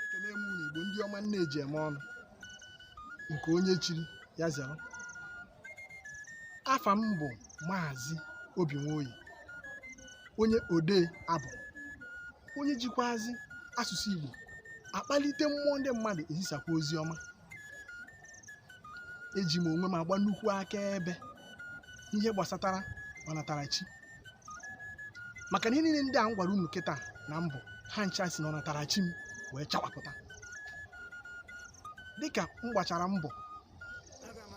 ekele m unu igbo ndị ọma nne eji eme ọnụ nke onye chiri ya zere afa m bụ maazị obi nwoye onye odee abụ onye jikwazi asụsụ igbo akpalite mmụọ ndị mmadụ ezisakwa ozi ọma eji m onwe m agba nnukwu akaebe n'ihe gbasatara ọnatarachi maka na ihe niile ndị a m gwara unu kịta na mbụ ha ncha si na ọnatarachi m wee chawapụta dịka m gbachara mbọ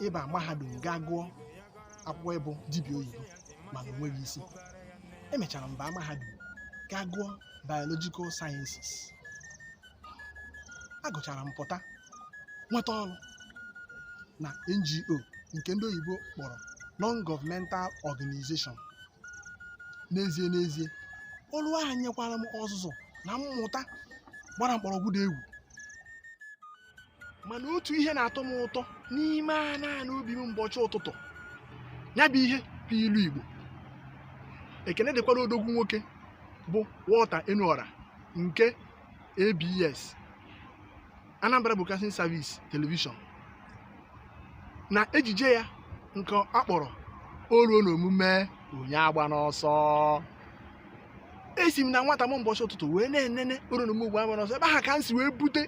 ịba mahadum gaa gụọ akwụkwọ ịbụ dibịa oyibo mana o nweghị isi emechara m baa mahadum gaa gụọ biological sciences agụchara m pụta nweta ọrụ na NGO nke ndị oyibo kpọrọ non-governmental organization n'ezie n'ezie ọrụ ahụ nyekwara m ọzụzụ na mmụta gbara mkpọrọgwụ dị egwu mana otu ihe na-atọ m ụtọ n'ime ana ana obi m mbọchị ụtụtụ ya bụ ihe bụ ilu Igbo ekene dịkwara odogwu nwoke bụ Walter Enuora nke ABS Anambra Broadcasting Service Television na ejije ya nke a kpọrọ o ruo n'omume onye agbana ọsọ esi m na nwata m ụbọchị ụtụtụ wee na-enene o ruo n'omume onye agbana ọsọ ebe aha ka m si wee bute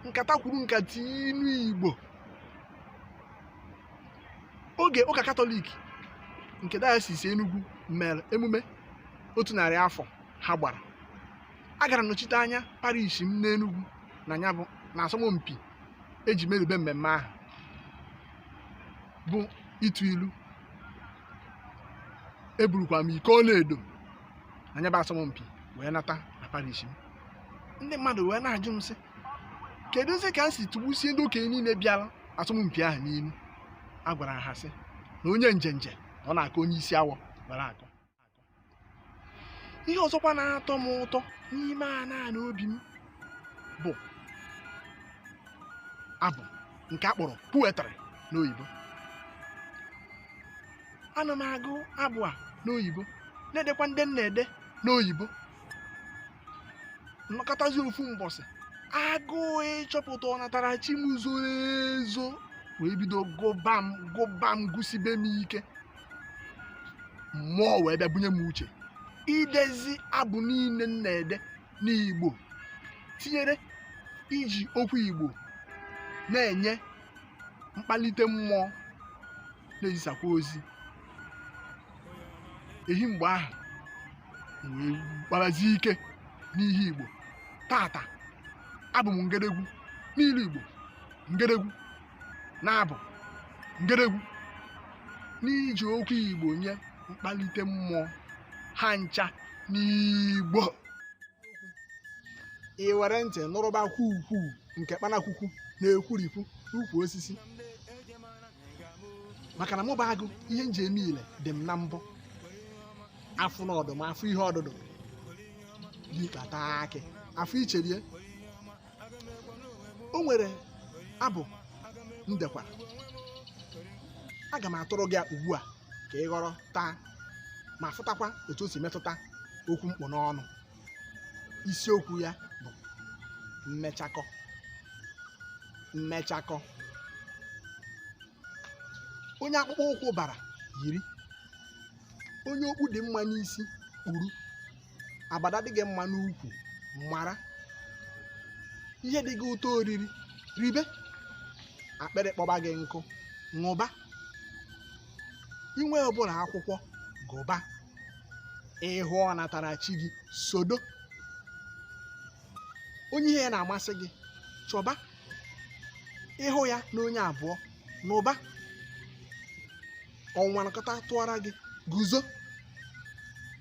nkata kwuru nkata inu igbo oge ụka katọlik nke diocese Enugwu mere emume otu narị afọ ha gbara agara m nọchite anya parish m n'Enugwu na asọmpi eji merube mmemme ahụ bụ ịtụ ilu eburukwa m iko ọlaedo na ya bụ asọmpi wee nata na parish m ndị mmadụ wee na-ajụ m sị keduzi ka m si tụgbusie ndị okenye niile bịara asọmpi ahụ n'ilu a gwara ha sị na onye njenje na ọ na-aka onye isi awọ gwara akọ ihe ọzọkwa na-atọ m ụtọ n'ime ana ana obi m bụ abụ nke a kpọrọ poetry n'oyibo ana m agụ abụ a n'oyibo na-edekwa ndị m na-ede n'oyibo m nọkatazi ofu mbọsị agụụ ịchọpụta ọnatarachi m zoro ezo wee bido gụba m gụba m gụsibe m ike mmụọ wee bịa bunye m uche idezi abụ niile m na-ede n'igbo tinyere iji okwu igbo na-enye mkpalite mmụọ na-ezisakwa ozi ehi mgbe ahụ wee kparazie ike n'ihe igbo tata abụ m ngedegwu n'ilu igbo ngedegwu n'abụ ngedegwu n'iji okwu igbo nye mkpalite mmụọ ha ncha n'igbo i were ntị nụrụba okwu ukwu nke kpanakwukwu na-ekwurikwu ukwu osisi maka na mụ bụ agụ ihe m ji eme ile dị m na mbọ afụ na ọdụm afụ ihe ọdụdụ dịkpata akị afụ ichere ya o nwere abụ m dekwara aga m atụrụ gị ya ugbu a ka ị ghọrọ taa ma fụtakwa etu o si metụta okwu m kpụ n'ọnụ isiokwu ya bụ mmechakọ mmechakọ onye akpụkpọ ụkwụ bara yiri onye okpu dị mma n'isi kpuru abada dị gị mma n'ukwu mara ihe dị gị ụtọ oriri ribe akpịrị kpọba gị nkụ ṅụba i nwee ụbụrụ akwụkwọ gụba ị hụ ọnatarachi gị sodo onye ihe ya na-amasị gị chọba ị hụ ya na onye abụọ nụba ọnwa nakọta tụọra gị guzo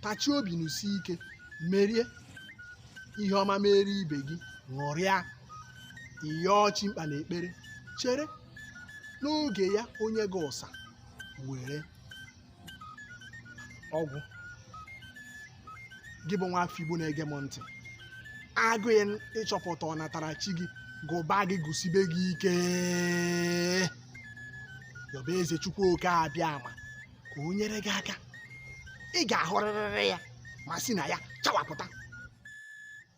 tachie obi nụsie ike merie ihe ọma mere ibe gị ṅụrịa ị yọọ chi mkpa n'ekpere chere n'oge ya o nye gị ụsa were ọ gwụ gị bụ nwa afọ igbo na-ege m ntị agụụ ịchọpụta ọnatarachi gị gụba gị gụsibe gị ike yọba eze chukwu oke abịama ka o nyere gị aka ị ga-ahụrịrịrị ya ma si na ya chawapụta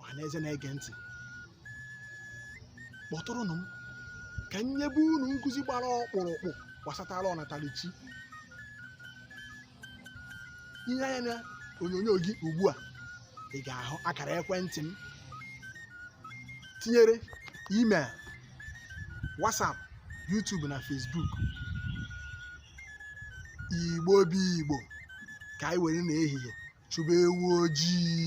ọhaneze na-ege ntị kpọtụrụnụ m ka m nyebe unu nkụzi gbara ọkpụrụkpụ gbasatara ọnatarachi i lee anya na onyonyo gị ugbu a ị ga-ahụ akara ekwentị m tinyere email WhatsApp YouTube na Facebook igbo bụ igbo ka anyị were n'ehihie chụba ewu ojii